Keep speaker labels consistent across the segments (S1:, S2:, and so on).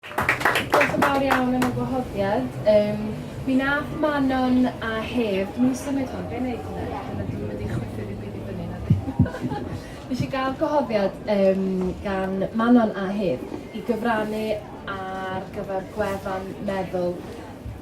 S1: Diolch yn fawr iawn am y gwahoddiad. Um, mi nath Manon a Hef, dwi'n mynd symud hwn, be'n neud hwnna? Yeah. Dwi'n mynd wedi chwythu ddim byd i fyny na di. Nes i gael gwahoddiad um, gan Manon a Hef i gyfrannu ar gyfer gwefan meddwl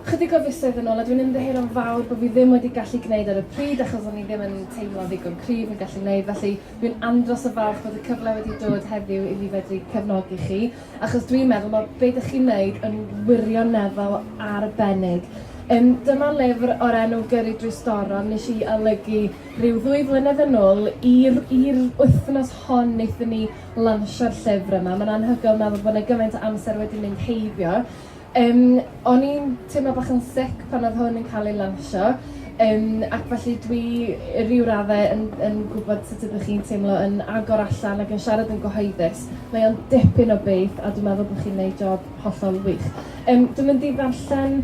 S1: chydig o fisoedd yn ôl a dwi'n ymddeheir o'n fawr bod fi ddim wedi gallu gwneud ar y pryd achos o'n i ddim yn teimlo ddigon cryf yn gallu gwneud felly dwi'n andros o falch bod y cyfle wedi dod heddiw i fi fedru cefnogi chi achos dwi'n meddwl mae be dych chi'n neud yn wirioneddol arbennig. Um, dyma lyfr o'r enw Gyrru drwy Storom nes i olygu rhyw ddwy flynedd yn ôl i'r wythnos hon wnaethon ni lansio'r llyfr yma. Mae'n anhygoel meddwl bod yna gymaint o amser wedi mynd heibio. Yym, o'n i'n teimlo bach yn sic pan odd hwn yn ca'l ei lansio yym ac felly dwi i ryw radde yn yn gwbod sut ydych chi'n teimlo yn agor allan ac yn siarad yn gyhoeddus. Mae o'n dipyn o beth a dwi'n meddwl bo' chi'n neud job hollol wych. Yym dwi mynd i ddarllen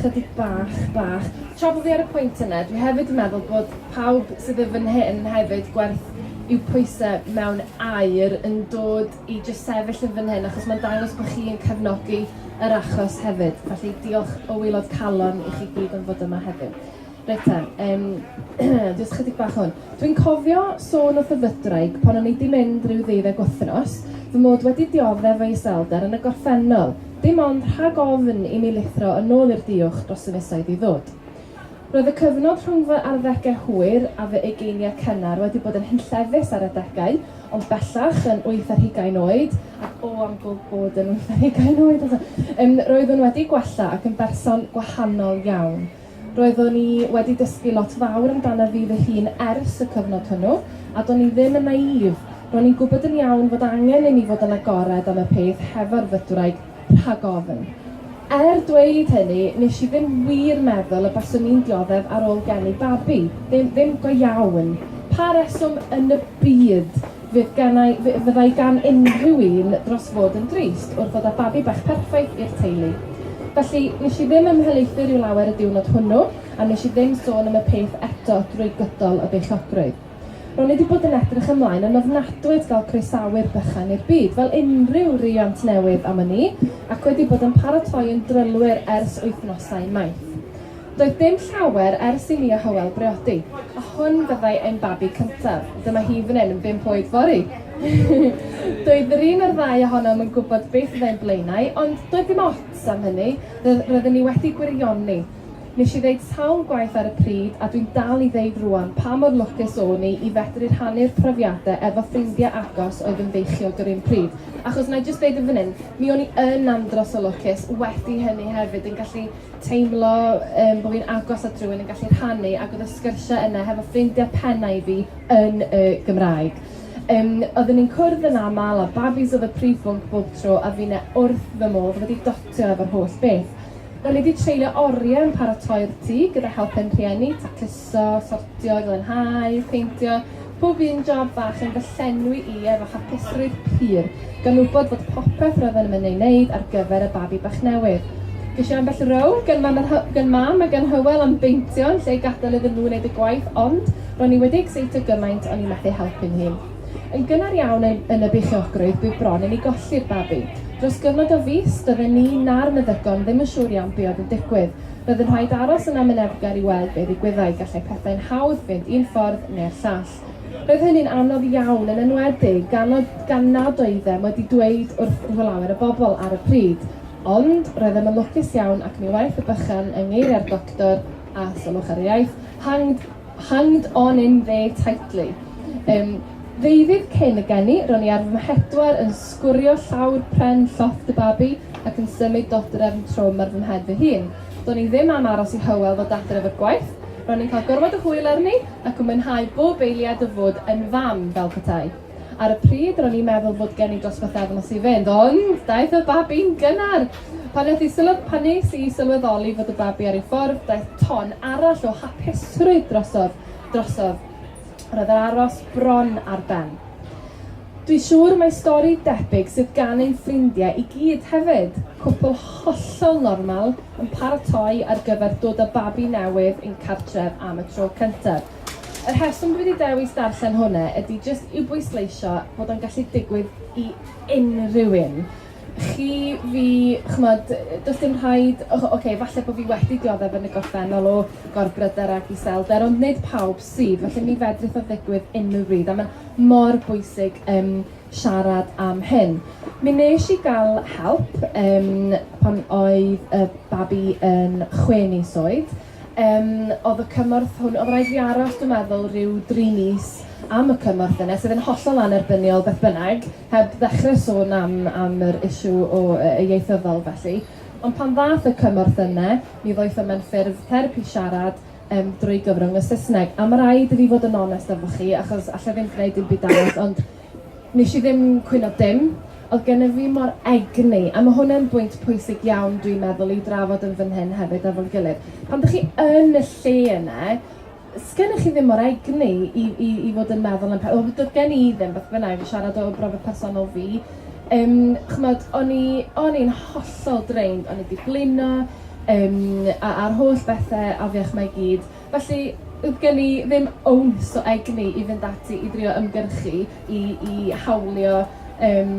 S1: chydig bach bach. Tra bo' fi ar y pwynt yna, dwi hefyd yn meddwl bod pawb sydd yn fan hyn hefyd gwerth i'w pwyse mewn aur yn dod i jyst sefyll yn fan hyn achos mae'n dangos bod chi yn cefnogi yr achos hefyd. Felly diolch o waelod calon i chi gyd am fod yma heddiw. Reit ta, um, jyst chydig bach hwn. Dwi'n cofio sôn wrth y fydraig pan o'n i di mynd rhyw ddeuddeg wythnos, fy mod wedi dioddef o'i selder yn y gorffennol, dim ond rhag ofn i mi lithro yn ôl i'r diwch dros y misoedd i ddod. Roedd y cyfnod rhwng fy arddegau hwyr a fy ugeiniau cynnar wedi bod yn hunllefus ar adegau, ond bellach yn wyth ar hugain oed, ac o am go bod yn wyth ar hugain oed eto, um, roeddwn wedi gwella ac yn berson gwahanol iawn. Roeddwn i wedi dysgu lot fawr amdana fi fy hun ers y cyfnod hwnnw, a do'n i ddim yn naïf. Ro'n i'n gwybod yn iawn fod angen i mi fod yn agored am y peth hefo'r fydwraig Rhag ofn. Er dweud hynny, nes i ddim wir meddwl y baswn i'n dioddef ar ôl geni babi. Ddim, ddim go iawn. Pa reswm yn y byd fydd gennau, fyddai gan unrhyw un dros fod yn drist wrth ddod â babi bach perffaith i'r teulu? Felly, nes i ddim ymhelaethu rhyw lawer y diwrnod hwnnw, a nes i ddim sôn am y peth eto drwy gydol y beichiogrwydd. Ro'n i wedi bod yn edrych ymlaen yn ofnadwy at gael croesawu'r bychan i'r byd, fel unrhyw riant newydd am wn i, ac wedi bod yn paratoi yn drylwyr ers wythnosau maith. Doedd dim llawer ers i mi a Hywel briodi, a hwn fyddai ein babi cyntaf. Dyma hi fan hyn yn bump oed fory! Doedd yr un o'r ddau ohonom yn gwybod beth fyddai'n blaenau, ond doedd dim ots am hynny, roedden ni wedi gwirioni. Nes i ddeud sawl gwaith ar y pryd, a dwi'n dal i ddeud rŵan, pa mor lwcus o'n i i fedru rhannu'r profiadau efo ffrindiau agos oedd yn feichiog yr un pryd. Achos, wna i jyst ddeud yn fan hyn, mi o'n i yn andros o lwcus wedi hynny hefyd, yn gallu teimlo yym bo' fi'n agos at rywun, yn gallu rhannu, ac oedd y sgyrsiau yna hefo ffrindiau penna' i fi yn y Gymraeg. Yym, oedden ni'n cwrdd yn aml, a babis oedd y prif bwnc bob tro, a finne wrth fy modd wedi dotio efo'r holl beth. Ro'n i 'di treulio oriau yn paratoi'r tŷ gyda help fy rhieni, tacluso, sortio, glanhau, peintio, pob un job fach yn fy llenwi i efo hapusrwydd pur, gan wybod fod popeth roedden yn ei wneud ar gyfer y babi bach newydd. Ges i ambell row gan mam, gan mam a gan Hywel am beintio yn lle gadael iddyn nhw wneud y gwaith ond ro'n i wedi ecseitio gymaint o'n i methu helpu'n hun. Yn gynnar iawn yn yn y beichiogrwydd bydd bron i ni golli'r babi. Dros gyfnod o fis, doedden ni na'r meddygon ddim yn siŵr iawn be oedd yn digwydd. Roedd yn rhaid aros yn amyneddgar i weld be ddigwyddai, gallai pethau'n hawdd fynd un ffordd neu'r llall. Roedd hynny'n anodd iawn, yn enwedig gan o- gan nad oeddem wedi dweud wrth lawer o bobl ar y pryd. Ond, roeddem yn lwcus iawn ac mi wnaeth y bychan, yng ngeiriau'r doctor, a sylwch ar ei iaith, hanged! Hanged on in there tightly. Yym, ddeuddydd cyn y geni, ro'n i ar fy mhedwar yn sgwrio llawr pren llofft y babi ac yn symud dodrefn trwm ar fy mhen fy hun. Do'n i ddim am aros i Hywel ddod adre efo'r gwaith, ro'n i'n cael gormod o hwyl arni ac yn mwynhau bob eiliad o fod yn fam, fel petai. Ar y pryd, ro'n i'n meddwl bod gen i dros bythefnos i fynd, ond daeth y babi'n gynnar! Pan nes i sylw- pan nes i sylweddoli fod y babi ar ei ffordd, daeth ton arall o hapusrwydd drosodd, drosodd. Roedd yr aros bron ar ben. Dwi'n siŵr mai stori debyg sydd gan ein ffrindiau i gyd hefyd. Cwpl hollol normal yn paratoi ar gyfer dod â babi newydd i'n cartref am y tro cyntaf. Y rheswm dwi 'di dewis darllen hwnna ydy jyst i'w bwysleisio bod o'n gallu digwydd i unrhyw un. Chi, fi, ch'mod, does dim rhaid, o- ocê, falle bod fi wedi dioddef yn y gorffennol o gorbryder ac iselder, ond nid pawb sydd, felly mi fedrith o ddigwydd unrhyw bryd, a mae'n mor bwysig um, siarad am hyn. Mi nes i gael help um, pan oedd y babi yn chwe mis oed, Yym oedd y cymorth hwn... oedd rhaid i fi aros dwi'n meddwl rhyw dri mis am y cymorth yna sydd yn hollol annerbyniol beth bynnag, heb ddechrau sôn am am yr issue o yy yy ieithyddol felly. Ond pan ddaeth y cymorth yna mi ddoeth o mewn ffurf therapi siarad yym drwy gyfrwng y Saesneg a ma' raid i fi fod yn onest efo chi achos alla i ddim gneud dim byd arall ond Nes i ddim cwyno dim. Oedd gennyf fi mor egni, a mae hwn yn bwynt pwysig iawn dwi'n meddwl i'w drafod yn fan hyn hefyd efo'n gilydd. Pan dych chi yn y lle yna, sgennych chi ddim mor egni i, i, i fod yn meddwl am pethau. Wel, doedd gen i ddim, beth bynnag, i siarad o brofiad personol fi. Um, chymod, o'n i, o'n i'n hollol drained, o'n i wedi blino, um, a'r holl bethau afiach mae gyd. Felly, doedd gen i ddim owns o egni i fynd ati i drio ymgyrchu i i hawlio yym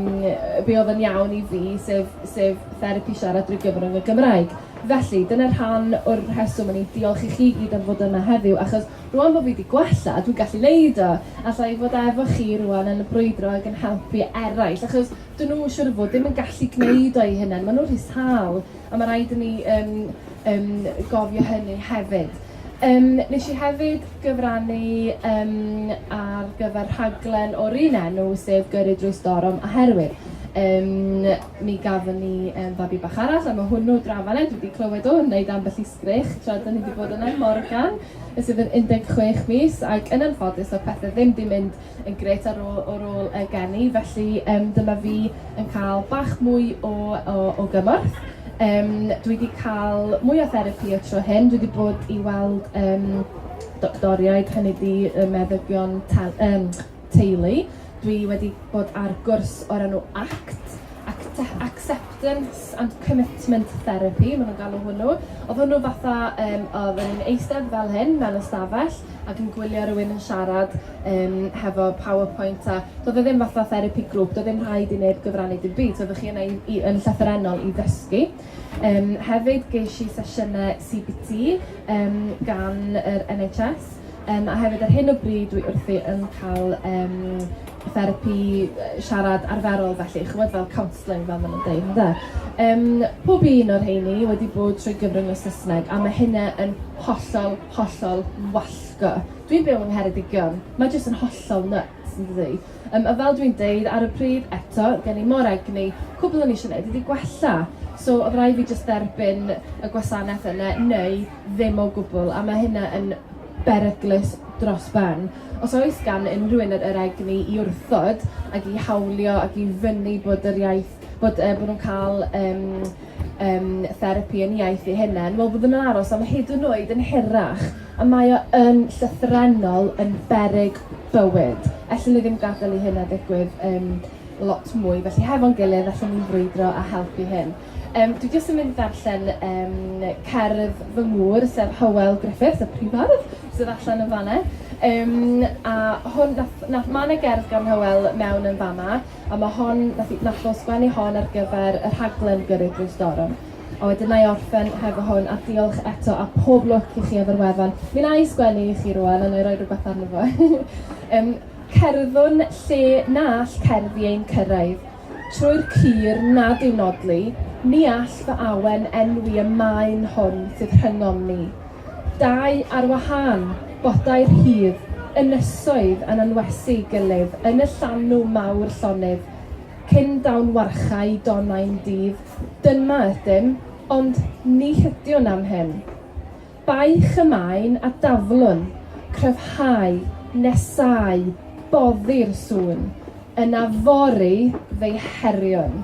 S1: be oedd yn iawn i fi, sef sef therapi siarad drwy gyfrwng y Gymraeg. Felly, dyna rhan o'r rheswm o'n i'n diolch i chi i gyd am fod yma heddiw, achos rŵan bod fi wedi gwella, dwi'n gallu wneud o, alla i fod efo chi rŵan yn brwydro ac yn helpu eraill, achos 'dyn nhw siŵr o fod ddim yn gallu gwneud o eu hunain, maen nhw'n rhy sâl, a ma' raid i ni yym yym gofio hynny hefyd. Yym nes i hefyd gyfrannu yym ar gyfer rhaglen o'r un enw sef Gyrru Drwy Storm oherwydd yym mi gafon ni yym babi bach arall a ma' hwnnw draw fan 'na dwi 'di clywed o yn wneud ambell i sgreech tra 'dan ni 'di bod yna Morgan sydd yn 16 mis ac yn anffodus o'dd pethe ddim 'di mynd yn grêt ar ôl o'r ôl y geni, felly um, dyma fi yn cael bach mwy o, o, o gymorth. Um, dwi wedi cael mwy o therapi y tro hyn, dwi wedi bod i weld um, doctoriaid, hynny di um, meddygion te um, teulu. Dwi wedi bod ar gwrs o'r enw ACT, Acceptance and Commitment Therapy, maen nhw'n galw hwnnw. Oedd hwnnw fatha, um, oedd yn eistedd fel hyn, mewn ystafell, ac yn gwylio rywun yn siarad um, hefo PowerPoint a doedd e ddim fatha therapy grŵp, doedd ddim rhaid i neb gyfrannu dim byd, so oeddech chi yna i, i, yn llythyrennol i ddysgu. Um, hefyd ges i sesiynau CBT um, gan yr NHS um, a hefyd ar hyn o bryd dwi wrthi yn cael um, therapi siarad arferol felly, chymod fel counselling fel maen nhw'n dweud, ynddo? Um, pob un o'r heini wedi bod trwy gyfrwng o Saesneg a mae hynna yn hollol hollol wallgo. Dwi'n byw yng Ngheredigion, mae jyst yn hollol nuts, yn dydi? Um, a fel dwi'n deud ar y pryd, eto, gen i mor egni, cwbl o'n i eisiau gwneud ydi gwella. So oedd rai fi jyst derbyn y gwasanaeth yna, neu ddim o gwbl, a mae hynna yn beryglus dros ben. Os oes gan unrhyw un yr egni i wrthod ac i hawlio ac i fyny bod yr iaith, bod, uh, bod nhw'n cael um, um, therapi yn iaith ei hunain, wel fyddwn yn aros am hyd yn oed yn hirach, a mae o yn llythrenol yn berig bywyd. Ellyn ni ddim gadael i hynna ddigwydd um, lot mwy, felly hefo'n gilydd allwn ni frwydro a helpu hyn. Um, dwi jyst yn mynd darllen um, cerdd fy ngŵr, sef Hywel Griffiths, y prifardd, sydd allan yn fanna. Um, a hwn, nath, nath, mae yna gerdd gan Hywel mewn yn fanna, a ma' hon, nath i- nath o sgwennu hon ar gyfer y rhaglen Gyrru Drwy Storm. A wedyn na'i orffen hefo hwn, a diolch eto, a pob lwc i chi efo'r wefan. Mi wna i sgwennu i chi rwan, a wna i roi rhywbeth arno fo. um, cerddwn lle na all cerddi ein cyrraedd. Trwy'r cur nad yw nodli, ni all fy awen enwi y maen hwn sydd rhyngom ni. Dau ar wahân, bodai'r rhif ynysoedd yn anwesu gilydd yn y llanw mawr llonydd, cyn dawn warchae Donau'n dydd. Dyma ydym, ond ni chydiwn am hyn. Baich y maen a daflwn, cryfhau, nesáu, boddi'r sŵn, yna fory fe'i heriwn.